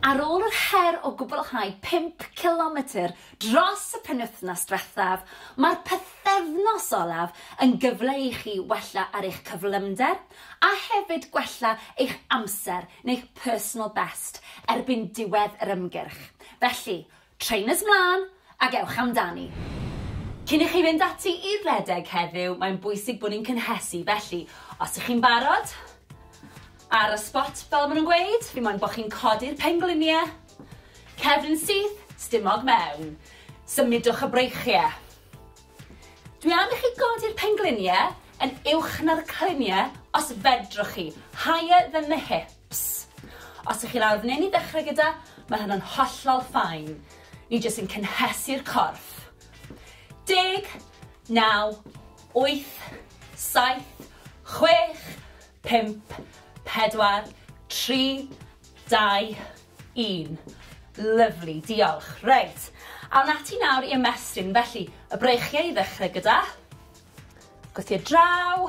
Ar ôl yr her o gwblhau pump cilometr dros y penwythnos diwethaf, mae'r pythefnos olaf yn gyfle i chi wella ar eich cyflymder a hefyd gwella eich amser neu'ch personal best erbyn diwedd yr ymgyrch, felly Trainers 'mlân ac ewch amdani! Cyn i chi fynd ati i redeg heddiw, mae'n bwysig bod ni'n cynhesu, felly os ych chi'n barod, ar y spot fel maen nhw'n gweud, fi moyn bod chi'n codi'r pengliniau, cefn syth, stumog mewn, symudwch y breichiau. Dwi am i chi godi'r pengliniau yn uwch na'r cliniau os fedrwch chi, higher than the hips. Ps. Os ych chi'n awr neu'n i ddechrau gyda, mae hynna'n hollol fine. Ni jyst yn cynhesu'r corff. Deg, naw, wyth, saith, chwech, pump, pedwar, tri, dau, un. Lyfli, diolch. Reit, awn ati nawr i ymestyn. Felly, y breichiau i ddechrau gyda. Gwthio draw.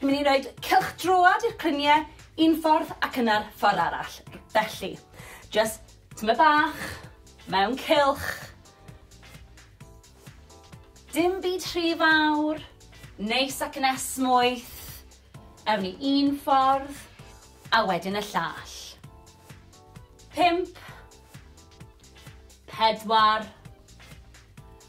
Ni'n mynd i roed cylch droad i'r clynie un ffordd ac yna'r ffordd arall. Felly, just tyma bach, mewn cylch. Dim byd rhy fawr, neis ac yn esmwyth. Ewn ni un ffordd, a wedyn y llall. Pimp. Pedwar.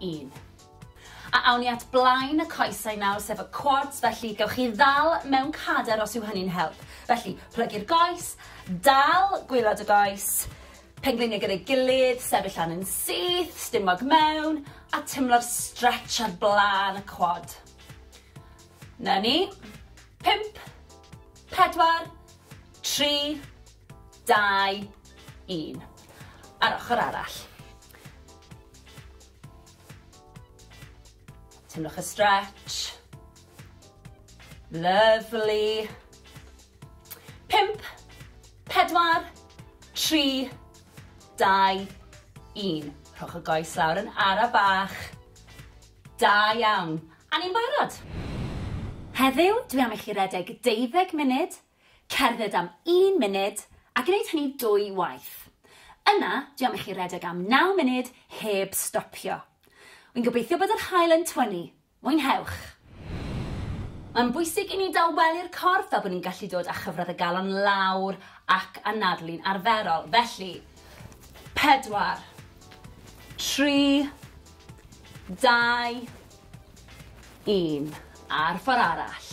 un. A awn ni at blaen y coesau nawr, sef y quads, felly gewch chi ddal mewn cader os yw hynny'n help. Felly, plygu'r goes, dal gwylod y goes, pengliniau gyda'i gilydd, sefyll lan yn syth, stumog mewn, a tymlo'r stretch ar blaen y quad. Na ni. Pimp, pedwar, tri, Dau, un. A'r ochr arall. Teimlwch y stretch. Lovely. Pimp, pedwar, tri, dau, un. Rhowch y goes lawr yn ara bach. Da iawn. A ni'n barod. Heddiw, dwi am i chi redeg deuddeg munud Cerdded am un munud a gwneud hynny dwy waith. Yna, dwi am i chi redeg am naw munud heb stopio. Wi'n gobeithio bod yr haul yn twynnu. Mwynhewch! Mae'n bwysig i ni dawelu'r corff fel bod ni'n gallu dod â chyfradd y galon lawr ac anadlu'n arferol. Felly, pedwar, tri, dau, un. A'r ffordd arall.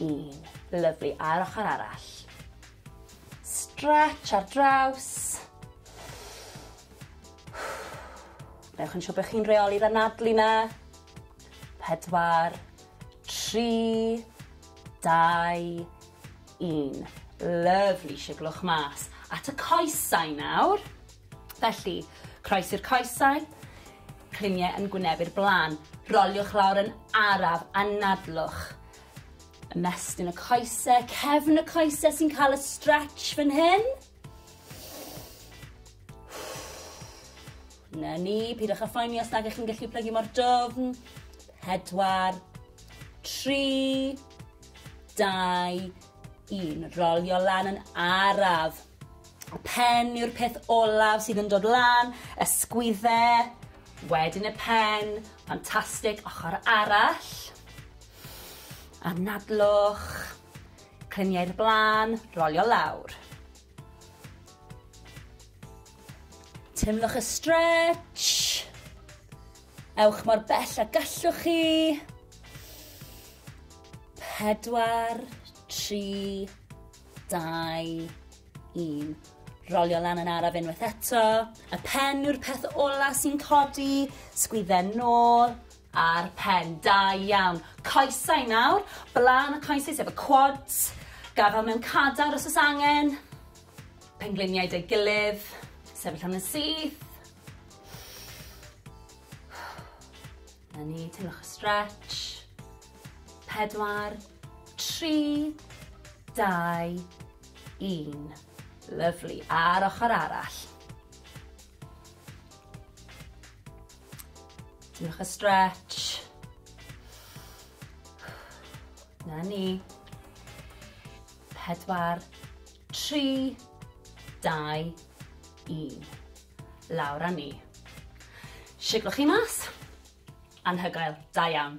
Un. Lyfli. A'r ochr arall. Stretch ar draws. Newch yn siŵr bod chi'n reoli'r anadlu na. Pedwar. Tri. Dau. Un. Lyfli. Siglwch mas. At y coesau nawr. Felly, croesi'r coesau, cliniau yn gwynebu'r blaen. Roliwch lawr yn araf, anadlwch. Ymestyn y coesau, cefn y coesau sy'n cael y stretch fan hyn. Na ni, pidwch â phoeni os nag ych chi'n gallu plygu mor dofn. Pedwar, tri, dau, Yn rolio lan yn araf. Pen yw'r peth olaf sydd yn dod lan, ysgwydde, wedyn y pen, ffantastig, ochr arall. Anadlwch, clyniau'r blaen, rolio lawr. Teimlwch y stretch. Ewch mor bell a gallwch chi. Pedwar, tri, dau, un. Rolio lan yn araf unwaith eto. Y pen yw'r peth ola sy'n codi. Sgwydden nôl a'r pen. Da iawn. Coesau nawr. Blaen y coesau sef y quads. Gafel mewn cadar os oes angen. Pengliniau dy gilydd. Sefyll am yn syth. Na ni, teimlwch y stretch. Pedwar, tri, dau, un. Lyflu. A'r ochr arall. Teimlwch y stretch. Na ni. Pedwar, Tri, dau, un. Lawr â ni. Siglwch chi mas. Anhygoel. Da iawn.